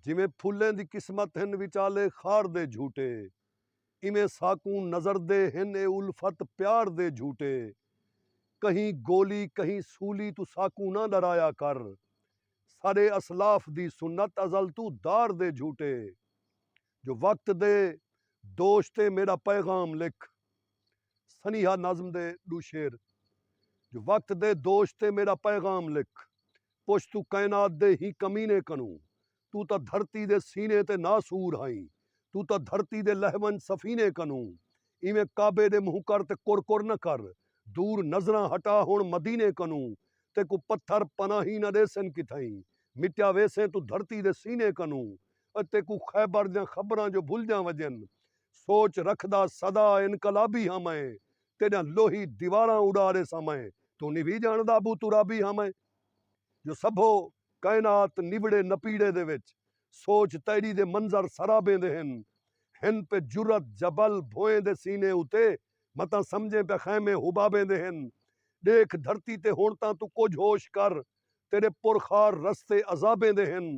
جیویں پھلیں دی قسمت ہن وچالے خار دے جھوٹے ایویں ساکوں نظر دے ہن اے الفت پیار دے جھوٹے کہیں گولی کہیں سولی توں ساکوں نہ ݙرایا کر ساݙے اسلاف دی سنت ازل توں دار دے جھوٹے جو وقت دے دوش تے میݙا پیغام لکھ سنیہا نظم دے ݙو شعر جو وقت دے دوش تے میݙا پیغام لکھ پچھ توں کائنات دے ہیں کمینے کنوں توں تاں دھرتی دے سینے تے ناسور ہائیں توں تاں دھرتی دے لہہ ونڄ سفینے کنوں ایویں کعبے دے مونہہ کر تے کر کر نہ کر دور نظراں ہٹا ہݨ مدینے کنوں تیکوں پتھر پناہیں نہ ݙیسن کتھائیں مٹیا ویسیں توں دھرتی دے سینے کنوں او تیکوں خیبر دیاں خبراں جو بھلدیاں وڄن سوچ رکھدا سدا انقلابی ہاں میں تیڈیاں لوہی دیواراں اڈاڑے ساں میں توں نی وی جانڑدا ابو ترابی ہاں میں جو سبھو کائنات نبڑے نپیڑے دے وچ سوچ تیڈی دے منظر سرابیں دے ہن ہن پہ جرات جبل بھوئیں دے سینے اتے متاں سمجھیں پہ خیمے حبابیں دے ہن ڈیکھ دھرتی تے ہنڑ تاں توں کجھ ہوش کر تیڈے پرخار رستے عذابیں دے ہن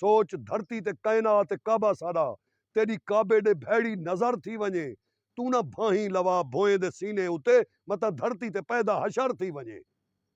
سوچ دھرتی تے کائنات تے کعبہ ساݙا تیݙی کعبے ݙے بھیڑی نظر تھی ونڄے توں نہ بھانہیں لوا بھوئیں دے سینے اتے متاں دھرتی تے پیدا حشر تھی ونڄے۔